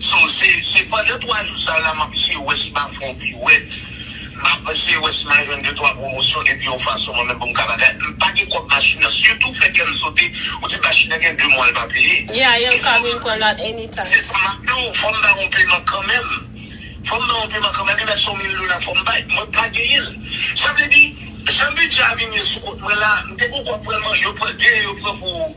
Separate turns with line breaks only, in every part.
So se se pandan 3 jou sa la map eseye wè si map fè yon piwèt, map eseye wè si ma jwenn de twa pwomosyon epi yon fason mwen menm pou m ka bagay. M pa gen kòb machin nan sitou fè kè m sote ou di machin nan gen 2 mwa l pa peye. Yeah, yo ka vin pran
l at any time. Se sa map di w,
fò m bay yon peman kanmenm. Fò m bay yon peman kanmenm, li mèt se yon mil dola fò m bay. Mwen pa genyen l. Sa vle di, jan bidjè a vin ye sou kont mwen la, m te gen yon kòb pral man, yo pran, genyen yo pran pou.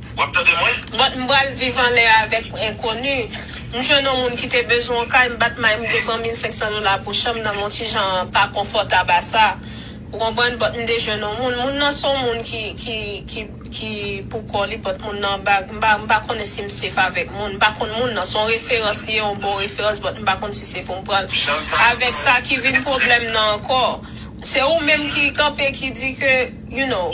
Wap tande mwen? But m pral viv
anlè avèk enkoni. M jwenn on moun ki te bezwen on kay, m bat may m te pran 1500 dola pou chanm nan m on ti jan pa konfòtab a sa. Ou konprann? But m te jwenn on moun. Moun nan s on moun ki ki ki ki pou kò li but moun nan bag m pa m pa konnen si m sef avèk moun. M pa konn moun nan. S on referans li ye, on bon referans but m pa konn si se pou m pran l. Avèk sa ki vin pwoblèm nan ankò. Se ou menm ki kanpe ki di ke you know.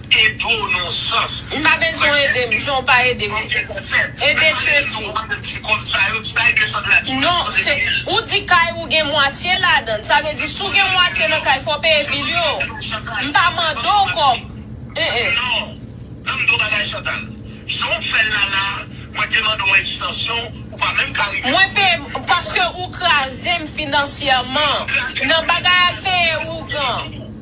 Te di w non sans. M pa bezwen w ede
m jan w pa ede m. Ede Tracy. Non, se, ou di kay ou gen mwatye ladann. Sa vle di si w gen mwatye nan kay fò w peye bil yo. M pa mande w kòb. Non. Tan m
di w bagay Chantal. Jan w fè l la la, mwen te mande w ekstansyon, ou pa menm ka rive Mwen peye m, paske
ou kraze m finansyèman. Nan bagay ak peye ougan.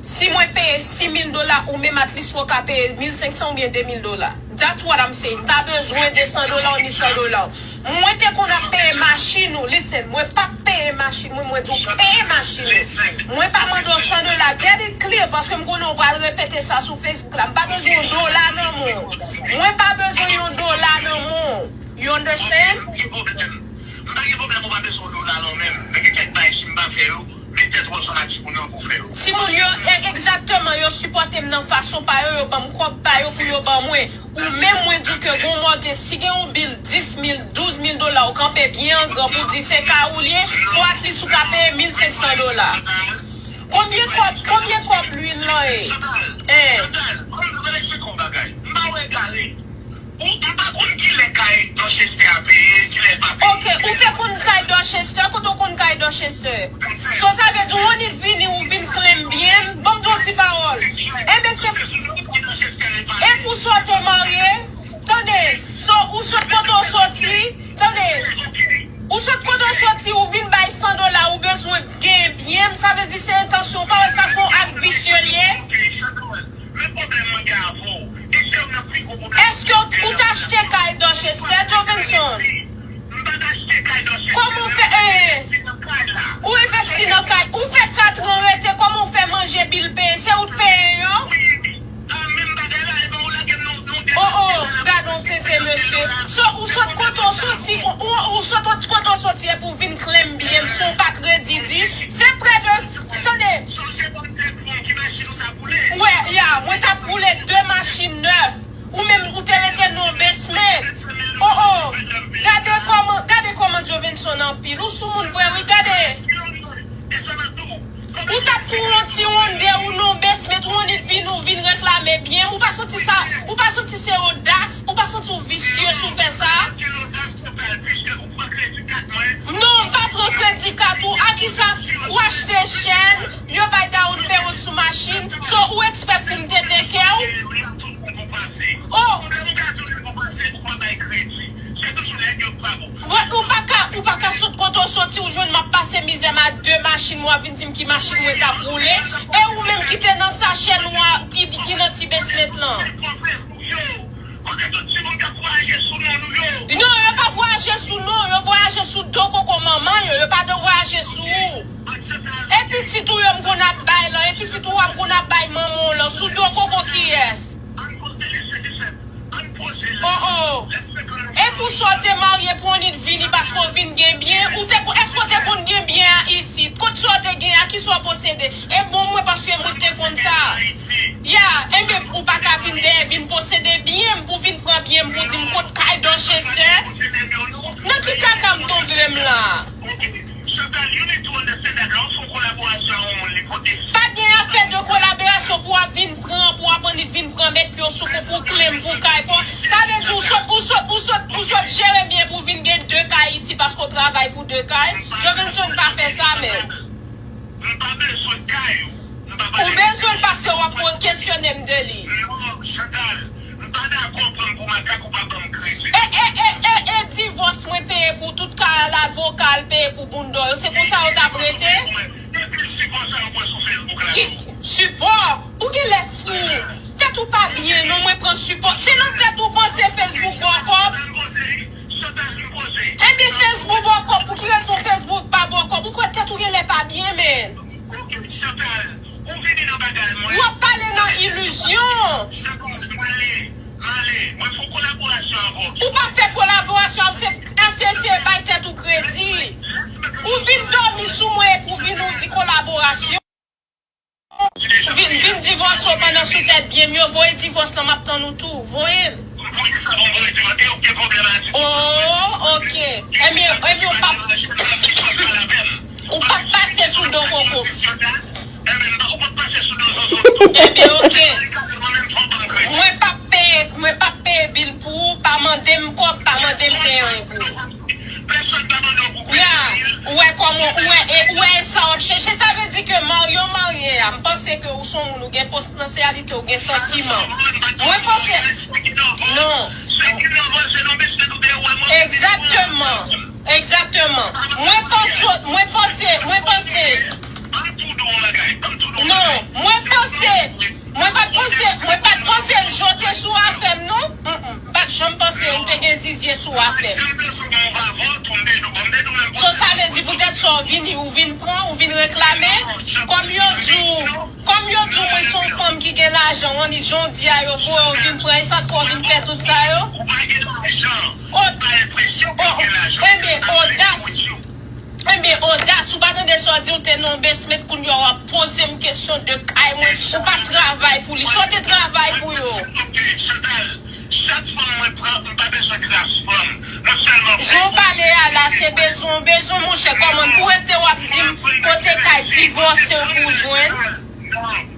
Si mwen peye 6000 dola ou menm at least mwen ka peye 1500 oubyen 2000 dola. That's what I'm saying. M pa bezwen 200 dola w ni 100 dola w. Mwen te konn ap peye machin ou, listen, mwen pa t peye machin mwen, mwen di w peye machin ou. Mwen pa mande w 100 dola, get it clear, paske m konnen w pral repete sa sou Facebook la. M pa bezwen yon dola nan men w. Mwen pa bezwen yon dola nan men w. You understand? Ok, m pa
gen pwoblèm. M pa gen pwoblèm ou pa bezwen yon dola nan men m, men gen kèk bagay si m pa fè yo, Pete tronson ak
timoun yo pou fè yo. Timoun yo e egzakteman yo sipòtem nan fason pa yo yo banm kòb pa yo pou yo ban mwen ou menm mwen diw ke gon mòtgej si gen yon bil 10 mil 12 mil dola ou kanpe byen an gran pou di se kay ou li ye fò atlis ou ka peye 1500 dola konbyen kòb konbyen kòb lwil lan ye eh. Chantal, konbyen kòb bagay, m pa wè egare. Ou m pa konn kilè kay Dorchester a peye, kilè l pa peye. Ok, ou te konn kay Dorchester, kote ou konn kay Dorchester? So sa vle di ou annik vini ou vin klem byen m, banm di yon ti pawòl. Enben se pou sa ou pran Dorchester e pa. Epi ou sot ou marye, tande, so ou sot kote ou soti, tande, ou sot kote ou soti ou vin bay 100 dola ou bezwen gen byen m, sa vle di se entansyon ou, pa wè sa son ak visye l ye?
Men pwoblèm mwen gen avè w. E se youn nan pi gwo pwoblèm
mwen gen avè w. Èske ou t achte kay Dorchez frè Jovenson? M pa t achte kay Dorchez frè mwen. Kòman w fè envesti nan kay la? Ou envesti nan kay. Ou fè katran rete kòman ou fè manje bil peye? Se ou t peye yo? Wi. Ah menm bagay la epa ou lagem nan yon dèt Oh oh gadon tenten mesye. So ou sot kote w soti ou sot ot kote w soti epi w vin klèm byen m si w pa t redi di se prè de tande. Sa k bon ki machin ou tap woule. Ou wè ya mwen tap woule 2 machin nèf ou menm ou te rete non basement oh oh gade kòman gade kòman jovenson anpil ou soumoun vre wi gade ou tap pou yon ti ronde ou non basement ou annik vin ou vin reklame byen ou pa santi sa ou pa santi se odas ou pa santi ou visye si w fè sa. pran kredi kat mwen. Non m pa pran kredi kat ou a kisa ou achte chèn yo bay down payment sou machin so ou expect pou m te teke w? Oh. Bon ou paka ou paka sot kote w soti ou jwenn m ap pase mizè m a 2 machin wap vin di m ki machin mwen tap woule e ou menm ki te nan sachè nwa ki nan ti basement lan. Yo, kote tout ti moun kap vwayaje sou non nou yo? Non, yo pa vwayaje sou non, yo vwayaje sou do koko manman yo, yo pa do vwayaje sou ou. E pitit ou yo m konn ap bay lan, e pitit ou a m konn ap bay manman w lan, sou do koko kiyès? Ann poze lesye Disèt, ann poze l. Oh oh! E pou sa w te marye pou w annik vini paske w vin gen byen, ou te kon, èske w te konn gen byen a isit? Kot sa w te gen an? Kisa w posede? E bon mwen paske mwen te konn sa. Ya, enben ou pa ka vin dèyè vin posede byen m pou vin pran byen m pou di m kot kay Dorchester? Nan ki kaka m tonbe m la a? Pa gen afè de kolaborasyon pou w ap vin pran, pou w ap annik vin pran bèk yo sou kou pou kle m pou kay pou Sa vle di ou sot, ou sot, ou sot, ou sot jere byen pou vin gen 2 kay isi paske w travay pou 2 kay? Jovenson pa fè sa men. M pa bezwen kay ou. M pa pale de kay. Ou bezwen l paske wap poz kesyone m de li. Non Chantal, m pa dakò pran m pou makak ou pa ban m kredi. E e e e e divòs mwen peye pou tout kay al avoka al peye pou bounda w yo se konsa yo tap rete? E pil sipò sa yo pran sou Facebook la tou. Ki sipò? Ou genlè fou. Tèt ou pa byen non mwen pran sipò. Se nan tèt ou panse Facebook ba w kòb? Chantal vin koze. Ebyen Facebook bòkò pou ki rezon Facebook pa bòkò ou kwè tèt ou genlè pa byen menn. Ok Chantal ou vini nan bagay mwen. Wap pale nan illusion. Chantal male male mwen fon kolaborasyon avè w. Ou pap fè kolaborasyon avm se eseye bay tèt ou kredi. Ou vin domi sou mwen epi w vin ou di kolaborasyon. Vin vin divòse w pandan sou tèt byen m yo voye divòs lan map tann ou tou voye l. M voye sa pou m voye divòs e ou p gen pwoblèm a di. Ooh ok ebyen ebyen ou pap ou pap pase sou do koko. Ebyen ok mwen pap peye mwen pap peye bil pou ou pa mande m kòb pa mande m peye anyen pou ou. Pèsòn pa mande w pou kòb Yaa, Cyril. ou wè kòman, ou wè e, ou wè e sa wap chèche, sa vle di ke marye w marye a, m panse ke ou son moun ou gen potansyalite, ou gen santiman. Mwen panse, non. Sa ki nan van se nan biskwit ou te wè mwen. Egzakteman, egzakteman. Mwen panse, mwen panse, mwen panse. Banm tou di w yon bagay, banm tou di w yon bagay. Non, mwen panse, mwen pat panse, mwen pat panse l jote sou afè m non. Pat janm panse ou te gen zizye sou afem. Sim te sou bon pa vant ou m te di w bon m te di w menm pwòp So sa vle di poutèt sa w vini ou vin pran ou vin reklame kòm yo di w kòm yo di w mwen se yon fanm ki gen lajan on it jondya yo voye w vin pran esak fè w vin fè tout sa yo. Ou pa gen lajan. Ou pa enpresyon ke w gen lajan. Ebyen odas. Ebyen odas ou pa tande sa w di w te nan yon basement kounya w ap poze m kesyon de kay mwen ou pa travay pou li sa w te travay pou yo. Mwen pral di w tou ok Chantal
chak fanm mwen pran m pa bezwen kras fanm mwen sèlman vle Jan w pale a la
se bezwen w bezwen monchè kòman pou rete w ap di m kote kay divòse w pou w jwenn.